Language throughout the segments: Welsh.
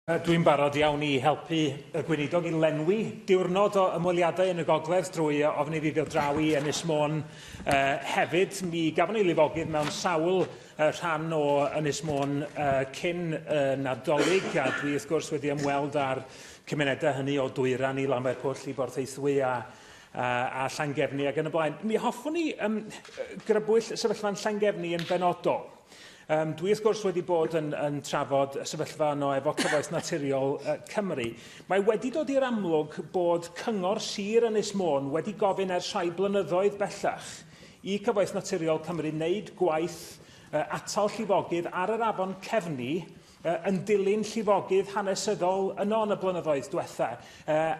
Dwi'n barod iawn i helpu y Gweinidog i lenwi diwrnod o ymweliadau yn y Gogledd drwy ofyn iddi ddod draw i Ynys Môn uh, hefyd. Mi gafon ni lifogydd mewn sawl uh, rhan o Ynys Môn uh, cyn uh, Nadolig a dwi wrth gwrs wedi ymweld â'r cymunedau hynny o Dwyran i Lanfair Pwll i Borthaethwy a a Llangefni ac yn y blaen. Mi hoffwn ni um, grybwyll sefyllfa'n Llangefni yn benodol. Um, dwi wrth gwrs wedi bod yn, yn trafod y sefyllfa yno efo Cyfoeth Naturiol uh, Cymru. Mae wedi dod i'r amlwg bod Cyngor Sir Ynys Môn wedi gofyn ers rhai blynyddoedd bellach i Cyfoeth Naturiol Cymru wneud gwaith uh, atal llifogydd ar yr afon Cefni yn dilyn llifogydd hanesyddol yno yn y blynyddoedd diwetha,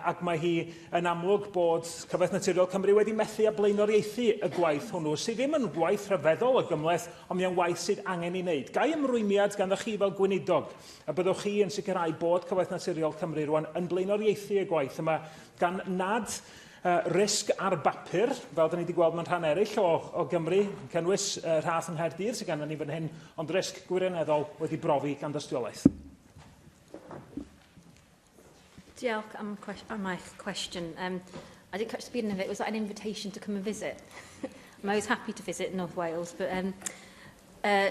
ac mae hi yn amlwg bod Cyfoeth Naturiol Cymru wedi methu â blaenoriaethu y gwaith hwnnw, sydd ddim yn waith rhyfeddol o gymhleth, ond mae'n waith sydd angen ei wneud. Gai ymrwymiad ganddo chi fel Gweinidog y byddwch chi yn sicrhau bod Cyfoeth Naturiol Cymru rwan yn blaenoriaethu y gwaith yma, gan nad Y risg ar bapur, fel da ni wedi gweld mewn rhan eraill o, o Gymru, yn cynnwys y rhath yng Nghaerdydd sydd ganddyn ni fan hyn, ond risg gwirioneddol wedi brofi gan dystiolaeth. Diolch am, am eich cwestiwn. Um, I did catch the beginning of it. Was that an invitation to come and visit? I was happy to visit North Wales, but um, uh,